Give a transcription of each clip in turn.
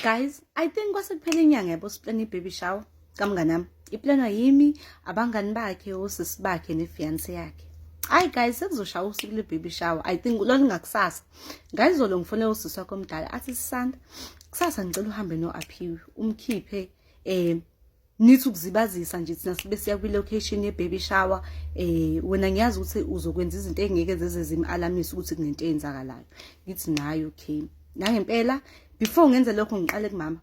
guys i think kwase kuphela inyanga yabo siplana i-baby shower kamnganami iplanwa yimi abangani bakhe osisi bakhe nefiyanse yakhe hayi guys sekuzoshaya usuku le-baby shower i think lwalingakusasa ngayizolo ngifone usisi wakho omdala athi sisanda kusasa ngicela uhambe no-aphiwe umkhiphe um nithi ukuzibazisa nje thina sibe siya kwi-location ye-baby shower eh wena ngiyazi ukuthi uzokwenza izinto engeke zeze zim-alamisa ukuthi kunento eyenzakalayo ngithi nayo okay nangempela before ngenze lokho ngiqale kumama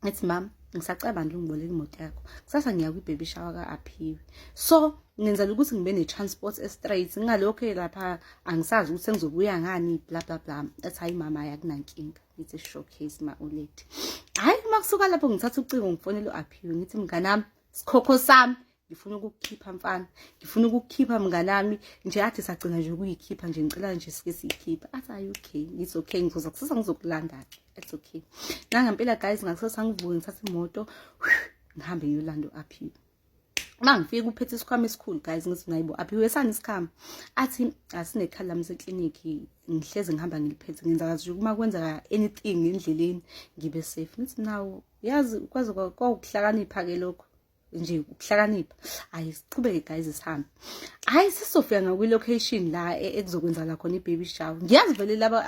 ngithi mama ngisacabanga ukungiboleka imoto yakho kusasa ngiya kwi-baby shower ka-aphiwe so ngenzela ukuthi ngibe ne-transport estraight ngingalokhu lapha angisazi ukuthi sengizobuya ngani bla bla bla ethi hayi mama yakunankinga it's a showcase ma ulethe hayi uma kusuka lapho ngithatha ucingo ngifonele u-aphiwe ngithi mnganami sikhokho sami ngifuna ukukukhipha mfana ngifuna ukukukhipha mnganami nje athi sagcina nje ukuyikhipha nje ngicela nje sike siyikhiphe athi ayi okay it's okay ngizoza kusasa ngizokulanda-ke it's okay nangempela guys ngakusasa ngivuke ngithatha imoto ngihambe ngiyolanda u-aphiwe uma ngifika uphethe isikhwama esikhulu guys ngithi ngayibo aphiwe sani isikhama athi asinekhala mse clinic ngihleze ngihamba ngiliphethe ngenza kazi uma kwenzeka anything endleleni ngibe safe ngithi nawo yazi kwaze kwakuhlakanipha ke lokho nje ukuhlakanipha hayi siqhubeke guys sihambe hayi sisofika ngakwi-location la e-, ekuzokwenzakala khona i-baby shower ngiyazi vele laba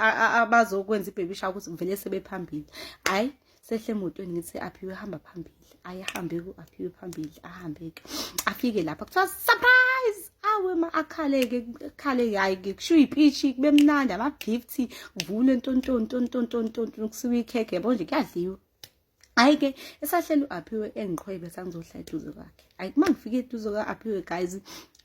abazokwenza i-baby shower ukuthi vele sebephambili hayi sehle emotweni ngithi aphiwe hamba phambili ayihambe ku aphiwe phambili ahambeke afike lapha kuthiwa surprise awe ma akhaleke akhale hayi ke kushiwo ipishi kube mnandi ama gift kuvule ntontoni ntontoni ntontoni kusiwa ikhekhe yabo nje kuyadliwa hayi ke esahleli u-aphiwe engiqhwebe sangizohla eduze kwakhe hayi uma ngifike eduze kwa-aphiwe guys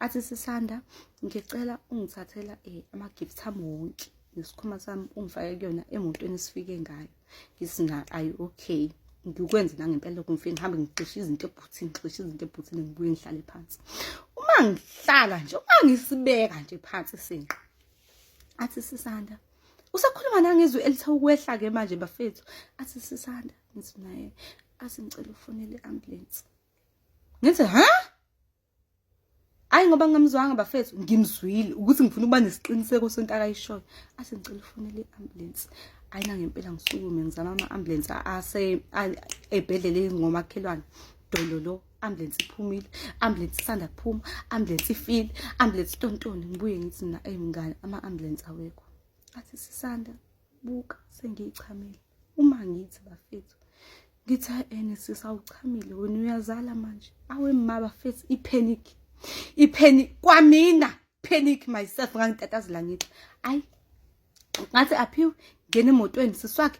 athi sisanda ngicela ungithathela um eh, ama-gift ami wonke nesikhwama sami ungifake kuyona emotweni esifike ngayo ngithi na ayi okay ngikwenze nangempela lokho ngifike ngihambe ngixishe izinto ebhuthini ngixishe izinto ebhuthini ngibuye ngihlale phansi uma ngihlala nje uma ngisibeka nje phansi isinqa athi sisanda usakhuluma nangizwi elithe ukwehla ke manje bafethu athi sisanda ngithi naye athi ngicela ufonele i-ambulance ngithi ha Hayi ngoba ngamzwanga bafethu ngimzwile ukuthi ngifuna ukuba nesiqiniseko sonto akayishoyo. Ase ngicela ufonele i-ambulance. Hayi na ngempela ngisukume ngizama ama-ambulance ase ebhedlela ezingomakhelwane. Dolo lo ambulance iphumile, ambulance isanda kuphuma, ambulance ifile, ambulance tontoni ngibuye ngithi na eyimngane ama-ambulance awekho. Athi sisanda buka sengiyichamile. Uma ngithi bafethu ngithi ene sisi awuchamile wena uyazala manje awe maba face ipanic ipanic kwamina panic myself ngangitatazela ngithi ayi ngathi aphiwe ngena emotweni siswakhe